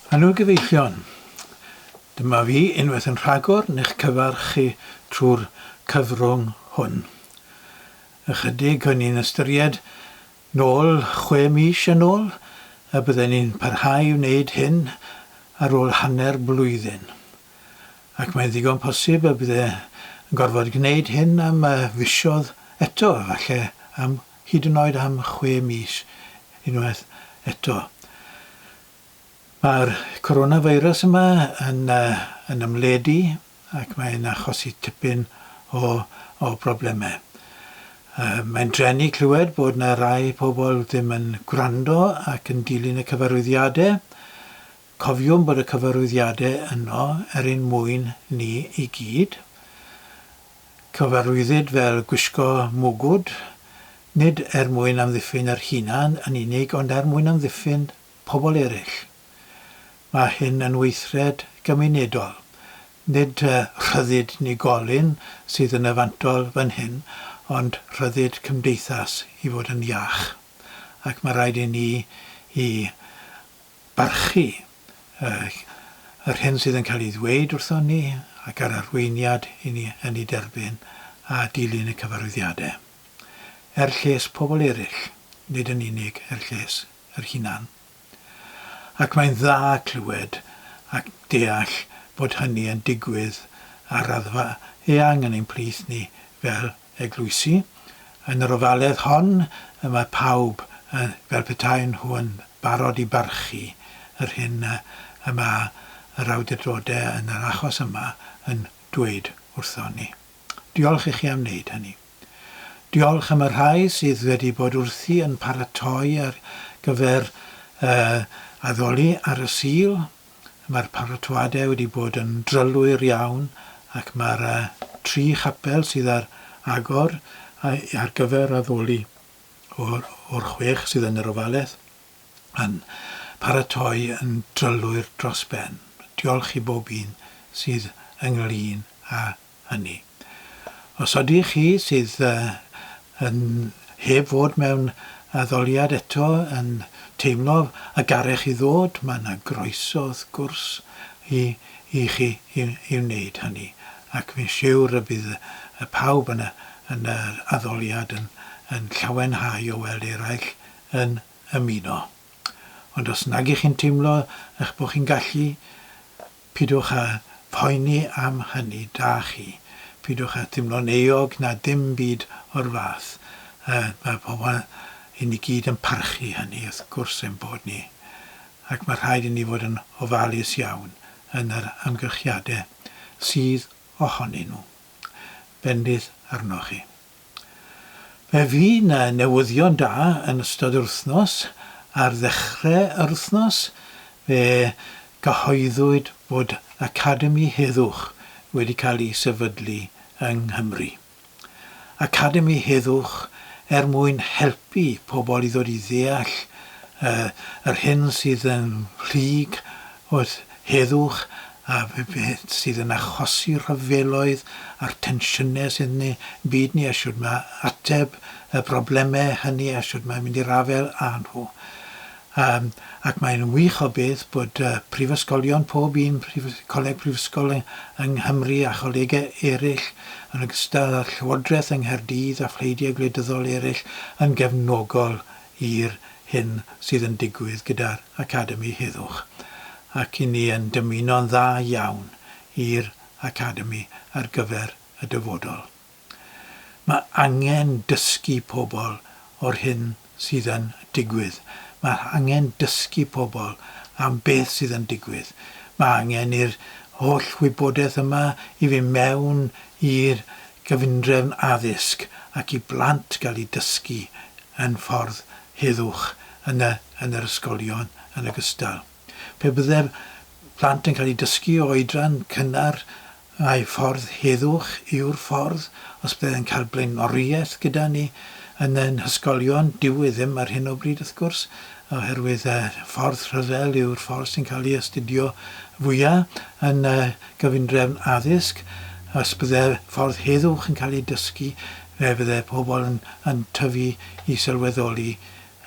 Helo gyfeillion! Dyma fi unwaith yn rhagor ni'ch cyfarch chi trwy'r cyfrwng hwn. Ychydig o'n i'n ystyried nôl chwe mis yn ôl y bydden ni'n parhau i wneud hyn ar ôl hanner blwyddyn. Ac mae'n ddigon posib y bydde yn gorfod gwneud hyn am fisoedd eto, falle am hyd yn oed am chwe mis unwaith eto. Mae'r coronavirus yma yn yn ymledu ac mae'n achosi tipyn o o broblemau. Yy mae'n drueni clywed bod 'na rai pobl ddim yn gwrando ac yn dilyn y cyfarwyddiadau. Cofiwn bod y cyfarwyddiadau yno er ein mwyn ni i gyd. Cyfarwyddid fel gwisgo mwgwd, nid er mwyn amddiffyn yr hunan yn unig ond er mwyn amddiffyn pobl eraill. Mae hyn yn weithred gymunedol, nid rhyddid unigolyn sydd yn y fantol fan hyn ond rhyddid cymdeithas i fod yn iach ac mae rhaid i ni i barchu yr hyn sydd yn cael ei ddweud wrthon ni ac yr arweiniad i ni yn ei derbyn a dilyn y cyfarwyddiadau. Er lles pobl eraill, nid yn unig er lles yr hunan. Ac mae'n dda clywed ac deall bod hynny yn digwydd ar raddfa eang yn ein plith ni fel eglwysi. Yn yr ofaledd hon y mae pawb yn, fel petaen nhw yn barod i barchu yr hyn y mae yr awdurdodau yn yr achos yma yn dweud wrthon ni. Diolch i chi am wneud hynny. Diolch am y rhai sydd wedi bod wrthi yn paratoi ar gyfer y addoli ar y Sul. Mae'r paratoadau wedi bod yn drylwyr iawn ac mae'r tri chapel sydd ar agor ar gyfer addoli o'r chwech sydd yn yr ofaledd yn paratoi yn drylwyr dros ben. Diolch i bob un sydd ynglŷn â hynny. Os ydych chi sydd yn, heb fod mewn addoliad eto, yn teimlo y garech i ddod, mae yna groeso wrth gwrs i i chi i i wneud hynny, ac fi'n siwr y bydd pawb yn yn yr addoliad yn yn llawenhau o weld eraill yn ymuno. Ond os nag 'ych chi'n teimlo 'ych bod chi'n gallu, Pidwch â phoeni am hynny, da chi. Pidwch â thimlo'n euog na dim byd o'r fath. Mae pobl, i ni gyd yn parchu hynny, wrth gwrs ein bod ni. Ac mae rhaid i ni fod yn ofalus iawn yn yr amgylchiadau sydd ohonyn nhw. Bendith arnoch chi. Fe fydd 'na newyddion da yn ystod yr wythnos, ar ddechre yr wythnos fe gyhoeddwyd bod Academi Heddwch wedi cael ei sefydlu yng Nghymru. Academi Heddwch er mwyn helpu pobl i ddod i ddeall yr hyn sydd yn rhyg Wrth heddwch a beth sydd yn achosi rhyfeloedd a'r tensiynau sydd yn ein byd ni a shwd mae ateb y broblemau hynny a shwd mae mynd i'r afael â nhw. Yym, ac mae'n wych o beth bod yy prifysgolion, pob un prif- coleg prifysgol yng yng Nghymru a cholegau eraill, yn ogystal â'r Llywodraeth yng Nghaerdydd a phleidiau gwleidyddol eraill, yn gefnogol i'r hyn sydd yn digwydd gyda'r Academi heddwch, ac i ni yn dymuno'n dda iawn i'r Academi ar gyfer y dyfodol. Mae angen dysgu pobl o'r hyn sydd yn digwydd. Mae angen dysgu pobl am beth sydd yn digwydd. Mae angen i'r holl wybodaeth yma i fynd mewn i'r gyfundrefn addysg ac i blant gael eu dysgu yn ffordd heddwch yn y yn yr ysgolion yn ogystal. Pe bydde'r plant yn cael eu dysgu o oedran cynnar mai ffordd heddwch yw'r ffordd, os bydde yn cael blaenoriaeth gyda ni yn ein hysgolion, dyw e ddim ar hyn o bryd wrth gwrs, oherwydd y ffordd rhyfel yw'r ffordd sy'n cael ei astudio fwya' yn y gyfundrefn addysg, os bydde'r ffordd heddwch yn cael ei dysgu, fe fydde pobl yn yn tyfu i sylweddoli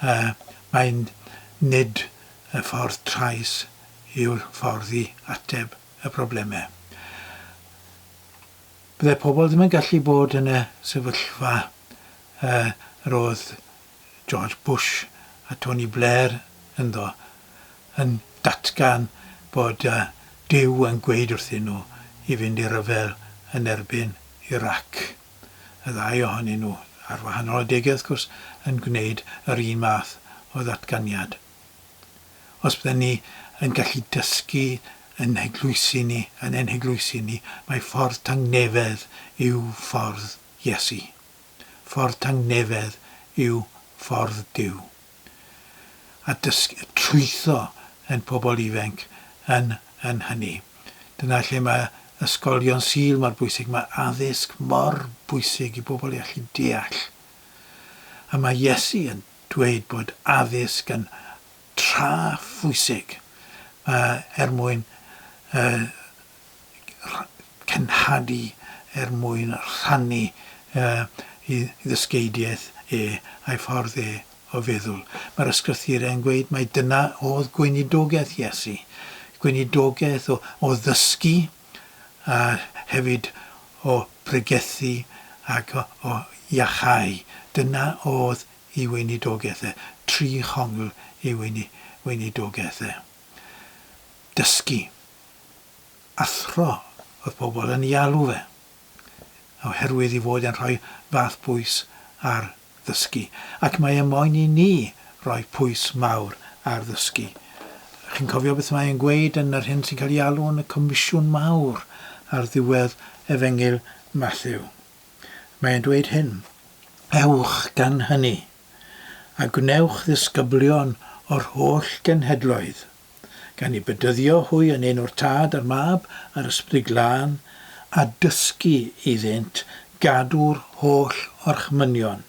yy mai nid y ffordd trais yw'r ffordd i ateb y problemau. Bydde pobl ddim yn gallu bod yn y sefyllfa yy yr oedd George Bush a Tony Blair ynddo, yn datgan bod Duw yn gweud wrthyn nhw i fynd i ryfel yn erbyn Irac. Y ddau ohonyn nhw, ar wahanol adegau wrth gwrs, yn gwneud yr un math o ddatganiad. Os bydden ni yn gallu dysgu yn eglwysi ni, yn ein heglwysi ni, mai ffordd tangnefedd yw ffordd Iesu. ffordd tangnefedd yw ffordd Duw. A dysg trwytho ein pobl ifenc yn yn hynny. Dyna lle mae ysgolion Sul mor bwysig, mae addysg mor bwysig i bobl i allu deall. A mae Iesu yn dweud bod addysg yn tra phwysig er mwyn y cenhadu er mwyn rhannu ei ddysgeidiaeth e a'i ffordd e o feddwl. Mae'r Ysgrythurau yn gweud mai dyna oedd gweinidogaeth Iesu, gweinidogaeth o ddysgu a hefyd o bregethu ac o iachau. Dyna oedd ei weinidogaeth e. Tri chongl ei weinidogaeth e. dysgu, athro oedd pobl yn ei alw fe, oherwydd ei fod e'n rhoi fath bwys ar ddysgu, ac mae e moyn i ni roi pwys mawr ar ddysgu. Chi'n cofio beth mae e'n gweud yn yr hyn sy'n cael ei alw yn y Comisiwn Mawr ar ddiwedd Efengyl Mathew? Mae e'n dweud hyn, Ewch gan hynny, a gwnewch ddisgyblion o'r holl genhedloedd, gan eu bedyddio hwy yn enw'r Tad a'r Mab a'r Ysbryd Glân, a dysgu iddynt gadw'r holl orchmynion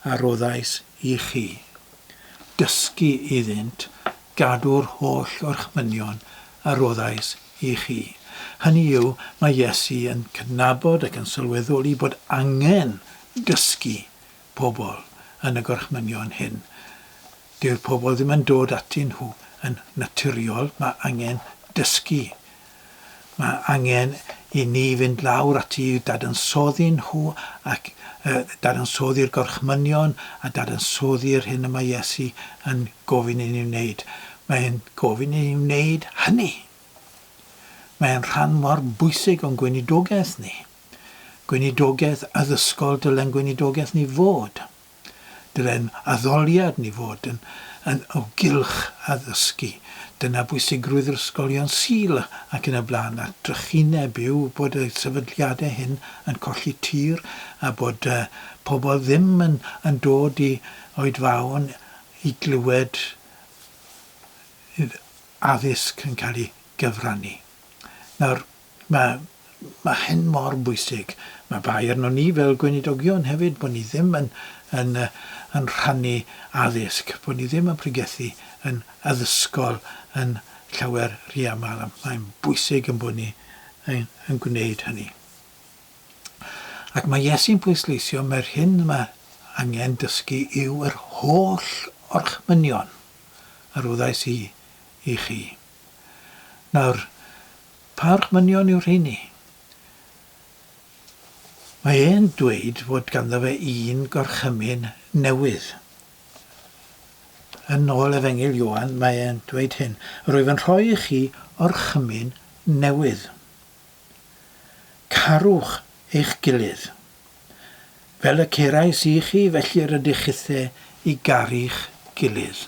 a roddais i chi. Dysgu iddynt gadw'r holl orchmynion a roddais i chi. Hynny yw, mae Iesu yn cydnabod ac yn sylweddoli bod angen dysgu pobl yn y gorchmynion hyn. Dyw'r pobl ddim yn dod atyn nhw yn naturiol, mae angen dysgu. Mae angen i ni fynd lawr ati i'w dadansoddi nhw ac uh, dadansoddi'r gorchmynion a dadansoddi'r hyn y mae Iesu yn gofyn i ni wneud. Mae'n gofyn i ni wneud hynny. Mae'n rhan mor bwysig o'n gweinidogaeth ni. Gweinidogaeth addysgol dyle'n gweinidogaeth ni fod. Dyle'n addoliad ni fod yn yn o gylch addysgu. Dyna bwysigrwydd yr ysgolion Sul ac yn y blaen a trychineb yw bod y sefydliadau hyn yn colli tir a bod yy pobl ddim yn yn dod i oedfaon i glywed yy addysg yn cael ei gyfrannu. Nawr, Mae, mae hyn mor bwysig. Mae bai arnon ni fel Gweinidogion hefyd bod ni ddim yn, yn, yn rhannu addysg, bod ni ddim yn pregethu yn addysgol yn llawer rhy aml, a mae'n bwysig yn bod ni yn, yn gwneud hynny. Ac mae Iesu'n pwysleisio mae'r hyn mae angen dysgu yw yr holl orchmynion a roddais i i chi. Nawr, pa orchmynion yw'r rheini? Mae e'n dweud fod ganddo fe un gorchymyn newydd. Yn ôl Efengyl Ioan, mae e'n dweud hyn, Rwyf yn rhoi i chi orchymyn newydd. Carwch eich gilydd. Fel y cerais i chi, felly rydych chithe i garu'ch gilydd.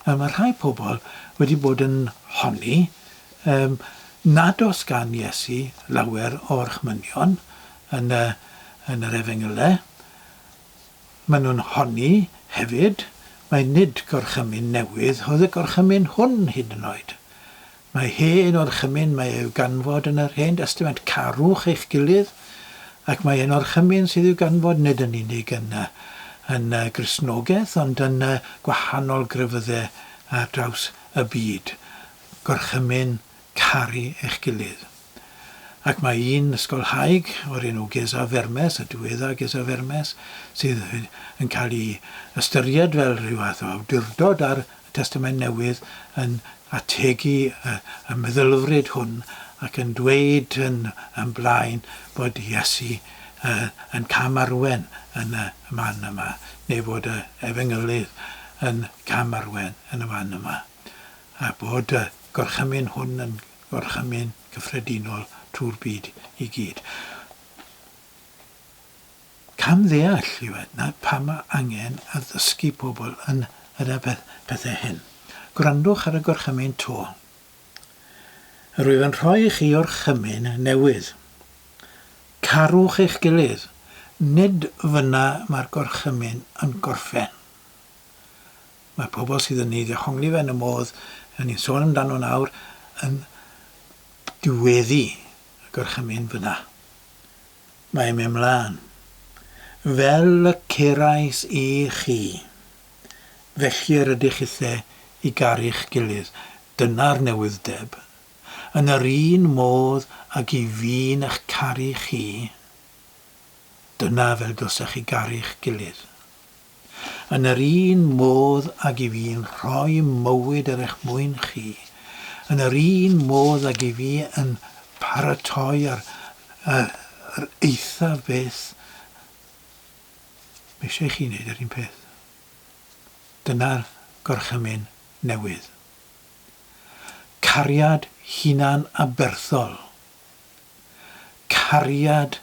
Yy mae rhai pobl wedi bod yn honni yym nad oes gan Iesu lawer o orchmynion yn y yn yr Efengylau. Maen nhw'n honni hefyd mai nid gorchymyn newydd oedd y gorchymyn hwn hyd yn oed. Mae hi yn orchymyn, mae i'w ganfod yn yr Hen Destament, carwch eich gilydd, ac mae e'n orchymyn sydd i'w ganfod nid yn unig yn y yn y Gristnogaeth, ond yn y gwahanol grefyddau ar draws y byd. Gorchymyn, caru eich gilydd. ac mae un ysgolhaig o'r enw Geza Vermes, y diweddar Geza Vermes, sydd yn cael ei ystyried fel rhyw fath o awdurdod ar y Testament Newydd, yn ategu y, y meddylfryd hwn ac yn dweud yn, yn blaen bod Iesu uh, yn camarwen yn y man yma, neu fod y Efengylydd yn camarwen yn y man yma. a bod y gorchymyn hwn yn gorchymyn cyffredinol trwy'r byd i gyd. Cam ddeall yw e, na pam mae angen addysgu pobl yn yr pethau hyn. Gwrandwch ar y gorchymyn to. Rwyf yn rhoi i chi orchymyn newydd. Carwch eich gilydd. Nid fyna mae'r gorchymyn yn gorffen. Mae pobl sydd yn ei ddehongli fe yn y modd rŷn ni'n sôn amdano nawr yn diweddu y gorchymyn fyna. Mae e'n mynd 'mlaen. Fel y cerais i chi, felly yr ydych chithe i garu'ch gilydd. Dyna'r newydd'deb. Yn yr un modd ag i fi'n 'ych caru chi, dyna fel dylsech chi garu'ch gilydd. Yn yr un modd ag i fi'n rhoi mywyd er eich mwyn chi, yn yr un modd ag i fi yn paratoi ar yr eithaf beth, mae eisiau i chi wneud yr un peth. Dyna'r gorchymyn newydd. Cariad hunan-aberthol. Cariad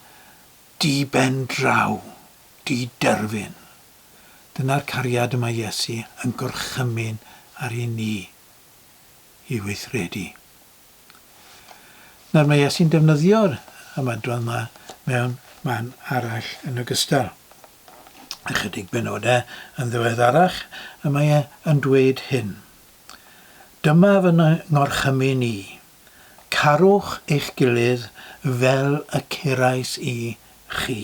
Di-ben draw, di-derfyn. Dyna'r cariad y mae Iesu yn gorchymyn ar i ni i weithredu. Nawr mae Iesu'n defnyddio'r ymadrodd yma mewn man arall yn ogystal. Ychydig benodau yn ddiweddarach y mae e yn dweud hyn, Dyma fy ngorchymyn i, Carwch eich gilydd fel y cerais i chi.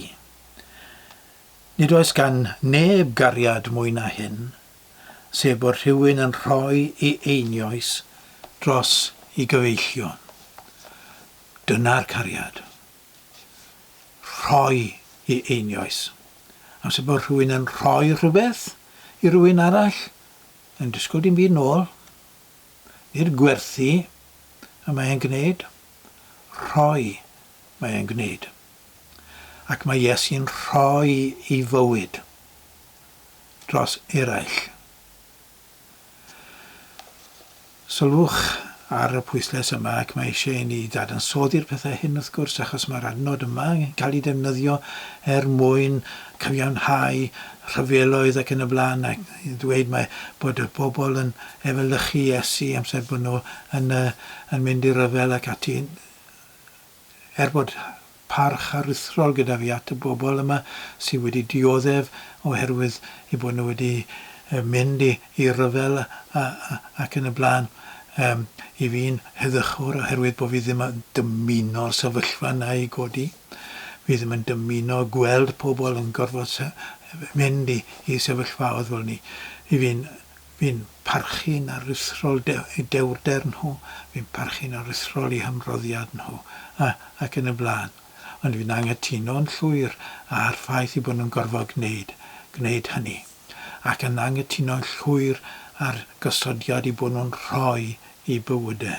Nid oes gan neb gariad mwy na hyn, sef bod rhywun yn rhoi ei einioes dros ei gyfeillion. Dyna'r cariad. Rhoi ei einioes. Amser bod rhywun yn rhoi rhywbeth i rywun arall, yn disgwyl dim byd nôl. Nid gwerthu y mae e'n gwneud, rhoi mae e'n gwneud. Ac mae Iesu'n rhoi ei fywyd dros eraill. Sylwch ar y pwyslais yma ac mae eisiau i ni dadansoddi'r pethau hyn wrth gwrs achos mae'r adnod yma yn cael ei defnyddio er mwyn cyfiawnhau rhyfeloedd ac yn y blaen ac yn dweud mae bod y bobl yn efelychu Iesu amser bod nhw yn yy yn mynd i ryfel ac ati yn er bod parch aruthrol gyda fi at y bobl yma sy wedi dioddef oherwydd ei bod nhw wedi yy mynd i i ryfel a a a ac yn y blaen yym i fi'n heddychwr oherwydd bod fi ddim yn dymuno'r sefyllfa yna i godi. Fi ddim yn dymuno gweld pobl yn gorfod mynd i i sefyllfaoedd fel 'ny. I fi'n fi'n parchu'n aruthrol de- eu dewrder nhw, fi'n parchu'n aruthrol eu hymroddiad nhw, a ac yn y blaen. Ond fi'n anghytuno'n llwyr â'r ffaith eu bod nhw'n gorfod gwneud gwneud hynny. Ac yn anghytuno'n llwyr â'r gosodiad eu bod nhw'n rhoi eu bywyde.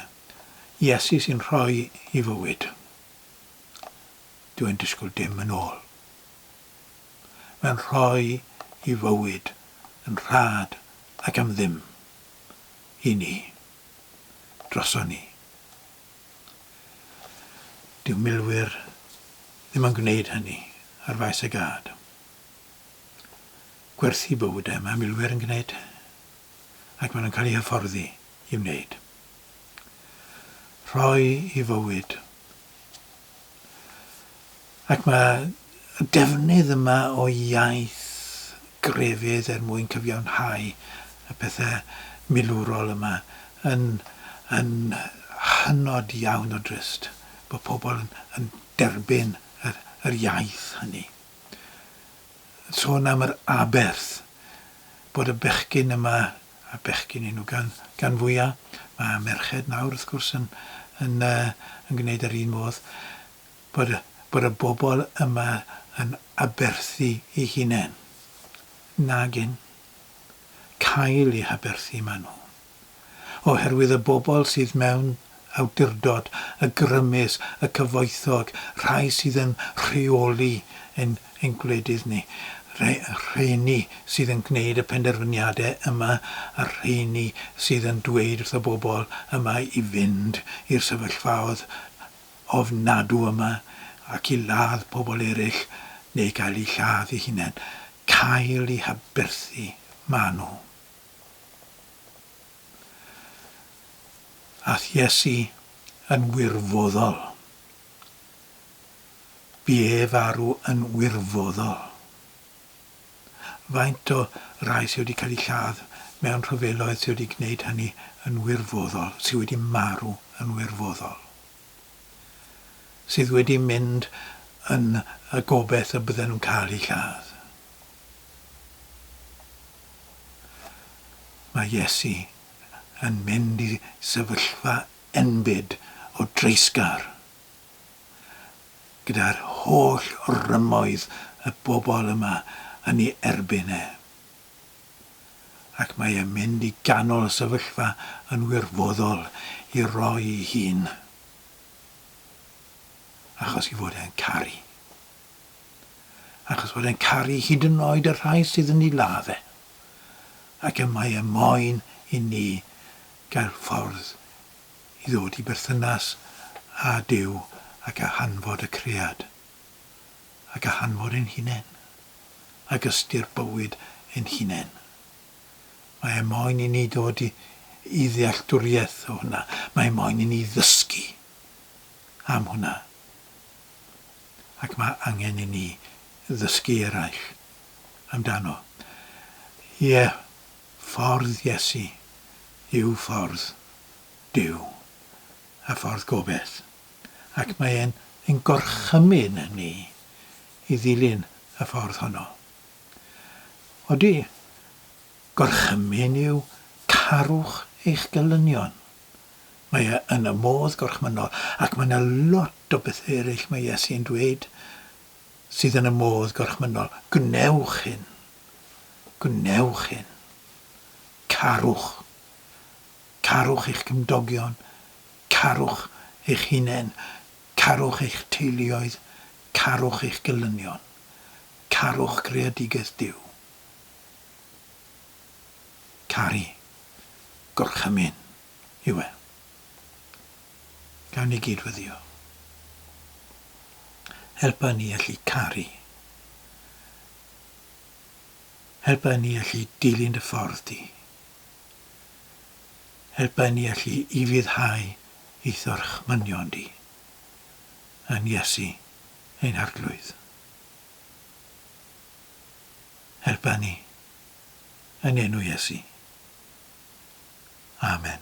Iesu sy'n rhoi ei fywyd. Dw i'n disgwyl dim yn ôl. Mae'n rhoi i fywyd yn rhad ac am ddim. I ni. Droson ni. Dyw milwyr ddim yn gwneud hynny ar faes y gad. Gwerthu bywydau mae milwyr yn gwneud ac maen nhw'n cael eu hyfforddi i wneud. Rhoi i fywyd. Ac mae y defnydd yma o iaith grefydd er mwyn cyfiawnhau y pethau milwrol yma yn, yn hynod iawn o drist bod pobl yn, yn derbyn yr, yr iaith hynny. Sôn am yr aberth bod y bechgyn yma y bechgyn enw gan gan fwya'. Mae merched nawr wrth gwrs yn yn yy yn gwneud yr un modd bod y bod y bobl yma yn aberthu i hunen. Nagyn. Cael i haberthu ma' nhw. Oherwydd y bobl sydd mewn awdurdod a grymus y cyfoethog, rhai sydd yn rheoli ein ein gwledydd ni, rheini sydd yn gwneud y penderfyniadau yma a rheini sydd yn dweud wrth y bobl yma i fynd i'r sefyllfaoedd ofnadw yma ac i ladd pobl eraill neu gael eu lladd eu hunain, cael eu haberthu, maen nhw. Ath Iesu yn wirfoddol. Bu ef farw yn wirfoddol. Faint o rai sydd wedi cael eu lladd mewn rhyfeloedd sydd wedi gwneud hynny yn wirfoddol, sydd wedi marw yn wirfoddol, sydd wedi mynd yn y gobaith y bydden nhw'n cael eu lladd? Mae Iesu yn mynd i sefyllfa enbyd o dreisgar, gyda'r holl rymoedd y bobl yma yn ei erbyn e. Ac mae e'n mynd i ganol y sefyllfa yn wirfoddol i roi'i hun, achos ei fod e'n caru. achos fod e'n caru hyd yn oed y rhai sydd yn ei ladd e, ac y mae e moyn i ni gael ffordd i ddod i berthynas â Duw ac â hanfod y cread, ac â hanfod ein hunain, ac ystyr bywyd ein hunain. Mae e moyn i ni ddod i, i ddealltwriaeth o hwnna. Mae e moyn i ni ddysgu am hwnna. ac mae angen i ni ddysgu eraill amdano. Ie, ffordd Iesu yw ffordd Duw a ffordd gobaith, ac mae e'n ein gorchymyn ni i ddilyn y ffordd honno. Odi, gorchymyn yw carwch eich gelynion. Mae e yn y modd gorchmynnol. Ac mae 'na lot o bethe ereill mae Iesu yn dweud sydd yn y modd gorchmynnol. Gwnewch hyn. Gwnewch hyn. Carwch. Carwch eich cymdogion. Carwch eich hunain. Carwch eich teuluoedd. Carwch eich gelynion. Carwch greadigaeth Duw. caru gorchymyn yw e. Gawn ni gyd-weddïo. Helpa ni allu caru. Helpa ni allu dilyn dy ffordd di. Helpa ni allu ufuddhau i thorchmynion di. Yn Iesu ein Arglwydd. Helpa ni yn enw Iesu. Amen.